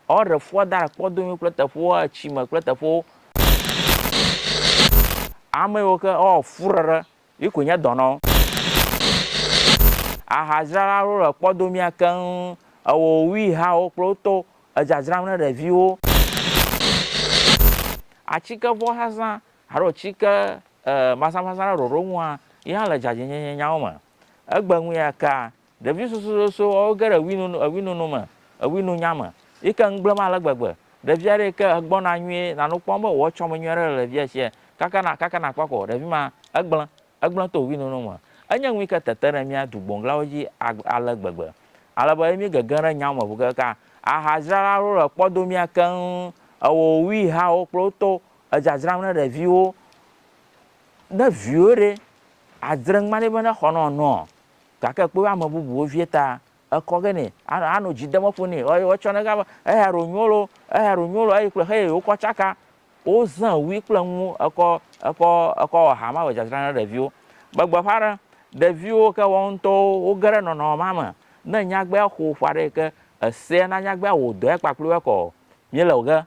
Ɔ ɖe fua da ɖe kpɔdo nyuiwo kple teƒewo a tsi me kple teƒewo. Ame yiwo ke ɔ fu ɖe ɖe yi koe nye dɔnɔ. Aha dzrala ɖewo le kpɔdo mía keŋ ewɔ wui hawo kple wo tɔwo edza dzram ne ɖeviwo. Atsike vɔ zazã alo tsike e mazã mazã ɖe ɖoɖo ŋu a yi hã le dzadzɛ nyenye nyawo me. Egbe ŋu ya kea Ɖevi sosososo ɔ woge ɖe ewinunu ewinunu me ewinunya me yike ŋgblem ale gbegbe. Ɖevi aɖe yike egbɔ na nyuie nanu kpɔm be wòetsɔ me nyuie aɖe le ɖevia sia kaka na kaka nakpɔ ko ɖevi ma egblẽ egblẽ to ewinunu me. Enye nu yike tete ɖe mía dugboŋglawo dzi agb ale gbegbe ale be mí gege ɖe nyawo me ŋu keŋka. Aha dzrala aɖewo le kpɔ do mía keŋ ewɔ wi hawo kple wo to edzadzram ne ɖeviwo. Ne viwò ɖe adzre ŋma nɛ be ne xɔ nɔ nɔa Gake kpɔe ame bubuwo vie ta ekɔ ge nɛ, anɔ anɔ dzi dem eƒo nɛ. Eye wotsɔ nɛ gã be, Eya ɖo nyo lo, eya ɖo nyo lo. Eye kple xeyi wokɔ tsaka. Wozẽ wui kple nuwo ekɔ ekɔ ekɔ wɔ ha ma be dzadzra na ɖeviwo. Be gbeƒã ɖe, ɖeviwo ke woawo ŋutɔwo woge ɖe nɔnɔme ma me. Ne nyagbea xo ƒe aɖe yi ke esea na nyagbea wɔ dɔe kpakple wo ekɔ o, míele ge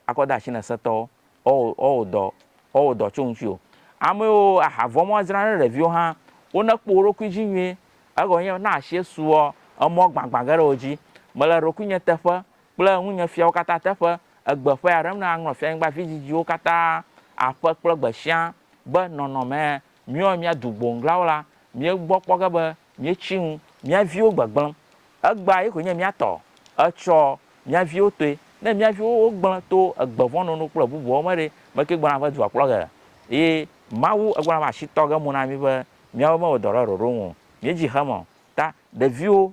Akɔ de ashi ne setɔwo, woawɔ, woawɔ dɔ, woawɔ dɔ tso ŋutsi o. Amɛwo aha vɔn mɔ woadzra ne ɖeviwo hã. Wo ne kpɔ woɖokui dzi nyuie. Egɔ nyɛ be, ne ashiɛ suɔ, emɔ gbagbã ge ɖe wo dzi. Mele ɖokuinyɛ teƒe kple ŋunyɛ fiawo kata teƒe egbe ƒɛa ɖem ne aŋlɔ Fianyigba vidzidziwo kata aƒe kple gbeshia be nɔnɔmɛ míawo mía du gboŋglawo la, míegbɔ kpɔ ge be míetsi nu, mía viwo gbegblẽ. Egbea ye koe nye mía tɔ. Etsɔ mía viwo toe. Ne mía viwo wogblẽ to egbe vɔ̃ nono kple bubuawo me ɖe, me kee gbɔna va dua kplɔ ge? Eye Mawu egblɔna va asi tɔ ge mo na mí be míawo mewɔ dɔ ɖe ɖoɖo nu o. Míedzi xeme o. Ta, ɖeviwo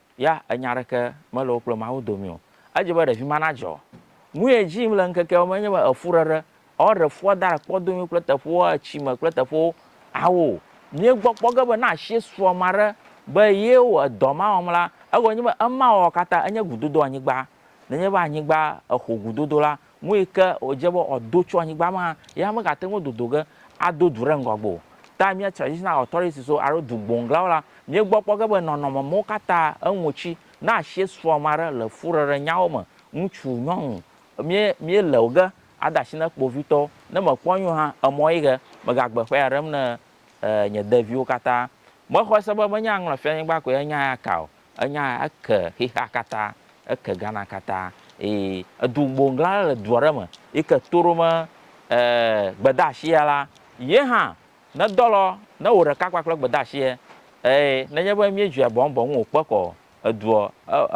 ya enya aɖeke mele wo kple Mawu dome o. Edze be ɖevi ma nadzɔ. Nu ye dzi yim le ŋkekeawo me enye be efuɖeɖe alo ɖe fua da ɖe kpɔdomewo kple teƒewo, etsi me kple teƒewo awo. Míegbɔ kpɔ ge be ne asie su ame aɖe be ye wɔ edɔ ma wɔm la, egɔme nye be ema wɔwɔ katã enye gudodoanyigba. Nenye be anyigba exo gudodo la, Nu yi ke wòdze be wòado tso anyigba me hã, ye hã megate ŋu dodo ge ado du ɖe ŋgɔ gbe o. Ta mía Traditional Authorities wo alo du gboŋglawo la, míegbɔ kpɔ ge be nɔnɔme mawo katã eŋu tsi. Ne asie srɔ̃ ame aɖe le fuɖeɖenyawo me, ŋutsu, nyɔnu, mí, míele wo ge ade asi na kpovitɔwo. Ne mekpɔ nyuie hã, emɔ ye ke megagbe ƒea ɖem na nye deviwo katã. Mexɔe se be menye aŋlɔ fianyigba koe nye nya ya ka o, Enya ya eke xexea katã, eke Ghana katã eye edu gboŋgla aɖe le du aɖe me yi ke to ɖom gbedeasia la, ye hã nedɔ lɔ ne wò ɖeka kpakple gbedeasia eye nenye be míedzɔe bɔŋbɔŋ wòkpe kɔ eduɔ,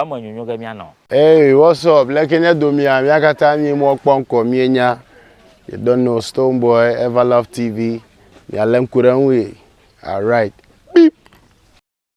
eme nyonyo ge míanɔ. Eye wɔsɔ bleke nye domia mia kata nyi mɔ kpɔ ŋkɔ mie nya you don't know stone boy ever love TV mia le ŋku ɖe ŋu ye alright beep.